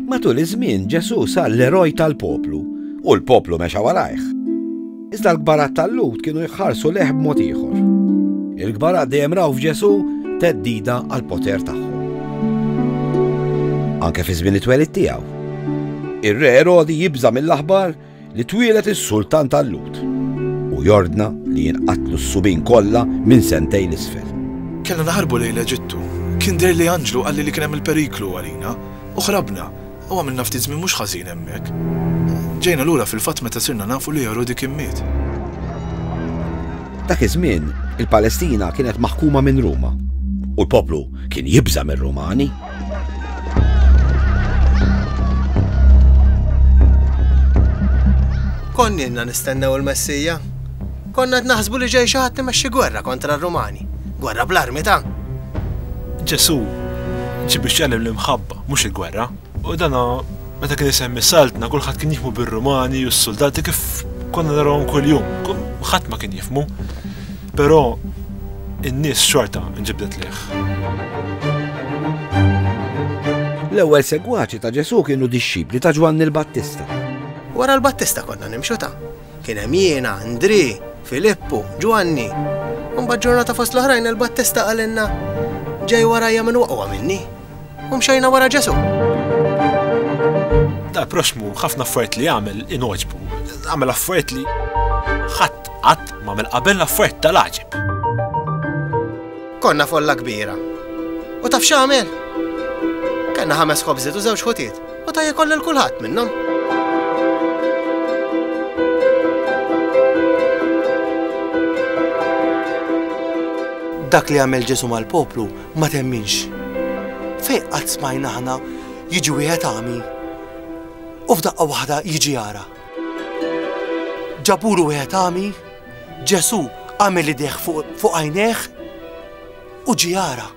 Matul iż-żmien Ġesù sar l-eroj tal-poplu u l-poplu mexa warajh. Iżda l-kbarat tal-Lhud kienu jħarsu leħ b'mod ieħor. Il-kbarat dejjem raw f'Ġesù teddida għal poter tagħhom. Anke fi żmien it-twelid tiegħu. Ir-re Erodi jibża' mill-aħbar li twieled is-Sultan Tallut u jordna li jinqatlu s-subien kollha minn sentejn 'l isfel. Kellna naħarbu lejn l-Eġittu. Kien deherli anġlu qalli li kien hemm il-periklu għalina, u ħrabna, u għamilna ftit żmien mhux ħażin hemmhekk. Ġejna lura fil-fatt meta sirna nafu li Erodi kien miet. Dak iż-żmien, il-Palestina kienet maħkuma minn Ruma, u l-poplu kien jibża' mir-Rumani. Konninna nistennew il-Messija. Konna qed naħsbu li ġej xi ħadd imexxi gwerra kontra r-Rumani. Gwerra bl-armi ta' Ġesu ġi biex jgħallem l-imħabba, mhux il-gwerra. U dana meta kien isemmi saltna kulħadd kien jifmu bir-Rumani u s-soldati kif konna narahom kuljum. Ħadd ma kien jifmu. Però in-nies xorta nġibdet lejh. L-ewwel segwaċi ta' Ġesù kienu dixxipli ta' Ġwanni l-Battista. Wara l-Battista konna nimxu ta'. Kien hemm jiena, Ndri, Filippu, Ġwanni. Imbagħad ġurnata fost l-oħrajn il-Battista qalilna, Ġej warajja min huwa aqwa minni. u mxejna wara Ġesu. Da proxmu ħafna affarijiet li għamel inoġbu, għamel affarijiet li ħadd qatt m'għamel qabel affarijiet tal-għaġib. Konna folla kbira. U taf x'għamel? Kenna ħames ħobżiet u żewġ ħutiet u ta' jkoll il kulħadd minnhom. Dak li għamel Ġesu mal-poplu Ma temminx. Fejn qatt smajna aħna jiġi wieħed għami u f'daqqa waħda jiġi jara? Ġabulu wieħed għami, Ġesù għamel idejh fuq għajnejh u ġi jara.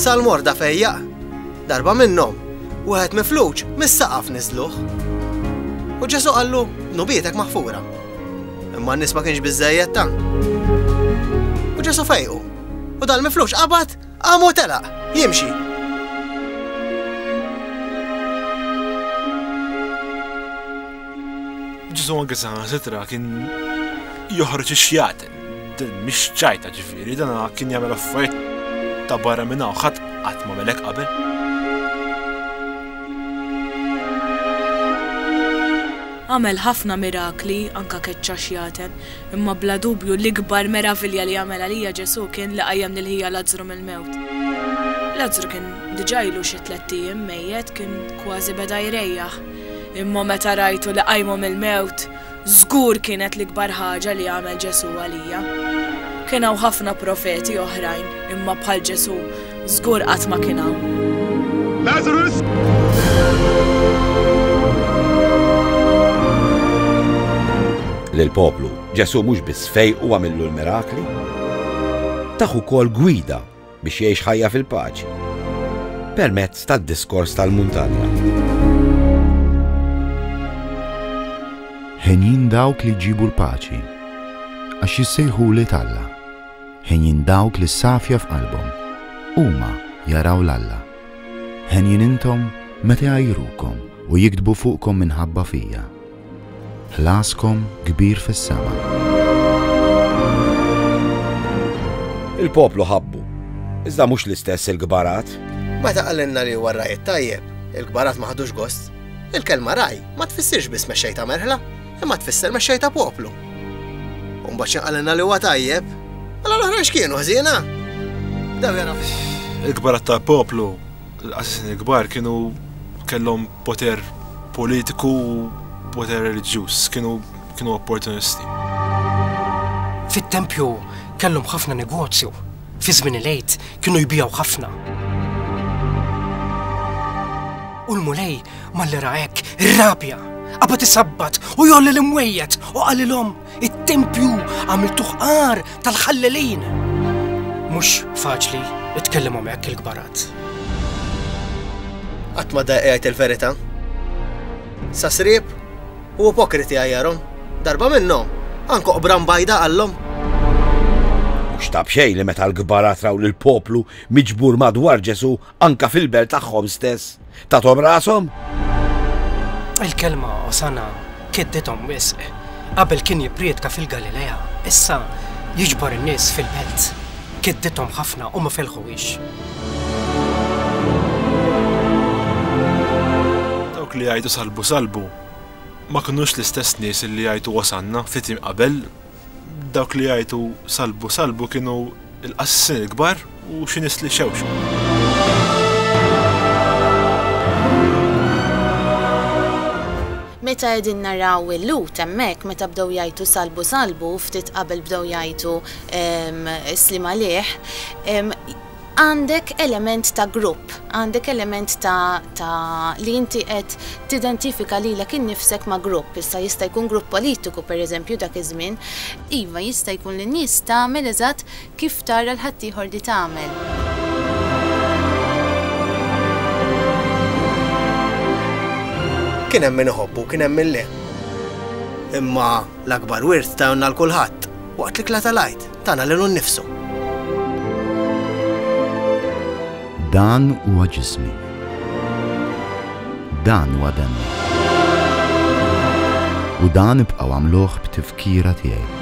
Sal-morda fejjaq Darba minnhom, wieħed mifluġ mis-saqaf niżżluh. U Ġesù qallu, 'Dnubietek maħfura. Imma n-nies ma kienx biżżejjed tant. U Ġesù fejqu, u dal-mifluġ qabad qam u telaq, jimxi. Ġesù anke saħansitra kien joħroġ ix-xjat. Din mhix ċajta ġifieri, dan kien jagħmel affarijiet ta' barra minn hawn ħadd qatt ma melek qabel. Għamel ħafna mirakli, anka keċċa xjaten, imma bla dubju l-ikbar meravilja li għamel għalija Ġesù kien li qajjem lil ħija Lazzru mill-mewt. Lazzru kien diġà ilu xi tlett ijiem mejjet, kien kważi beda jrejjaħ, imma meta rajtu li qajmu mill-mewt, Żgur kienet l-ikbar ħaġa li għamel Ġesù għalija. Kien hawn ħafna profeti oħrajn, imma bħal Ġesù, żgur qatt ma kien hawn. Lażarus! Lill-poplu, Ġesù mhux biss fejqu għamillu l-mirakli, tah ukoll gwida biex jgħix ħajja fil-paċi permezz tad-diskors tal-muntanja. Ħenjin dawk li ġibu l-paċi, għax jissejħu li talla. Ħenjin dawk li safja f'qalbhom, huma jaraw l-Alla. Ħenjin intom meta jajrukom u jiktbu fuqkom minħabba fija. Ħlaskom kbir fis-sema. Il-poplu ħabbu, iżda mhux l-istess il-kbarat. Meta qalilna li huwa r-ragħaj it-tajjeb, il-kbarat ma ħadux gost. Il-kelma ragħaj ma tfissirx biss mexxej ta' merħla, imma tfisser mexxej ta' poplu. U mbagħad x'inqalilna li huwa tajjeb, mela l-oħrajn x'kienu ħżiena? Daw jara. Il-kbarat ta' poplu, l-qassisin il-kbar kienu kellhom poter politiku u poter reliġjuż, kienu kienu opportunisti. Fit-tempju kellhom ħafna negozju, fi żmien il-għid kienu jbijaw ħafna. U l-mulej malli ra hekk irrabja, qabad isabbat u jolli l-imwejjed u qalilhom It-tempju għamiltuh għar tal-ħallelin. Mhux faċli itkellimhom hekk il-kbarat. Qatt ma daqqiegħed il-verità. Sa srieb u ipokriti għajjarhom. Darba minnhom, anko qbran bajda għallhom. Mhux tab xejn li meta l-kbarat raw lill-poplu miġbur madwar Ġesu Anke fil-belt tagħhom stess tathom rashom? Il-kelma Osana keddithom wisq. Qabel kien jipprietka fil-Galilea, issa jiġbor in-nies fil-belt. Keddithom ħafna u ma felħuhiex. Dawk li jgħidu salbu salbu ma kinux l-istess nies li jgħidu Osanna ftit jiem qabel? Dawk li jgħajtu salbu salbu kienu l-qassisin il-kbar u xi nies li xewxu. Meta qegħdin naraw il-lut hemmhekk meta bdew jgħajtu salbu salbu ftit qabel bdew jgħajtu ehm, slim għalih, ehm, Għandek element ta' grupp, għandek element ta' ta' li inti qed tidentifika lilek innifsek ma' grupp, issa jista' jkun grupp politiku pereżempju dak iż-żmien. Iva, jista' jkun li n-nies tagħmel eżatt kif tara l-ħaddieħor li tagħmel. Kien hemm min iħobbu, kien hemm min le. Imma l-akbar wirt tajna 'l kulħadd waqt l-ikla tal-Għid. tagħna lilu nnifsu. Dan huwa ġismi. Dan huwa demmi. U dan ibqgħu għamluh b'tifkira tiegħi.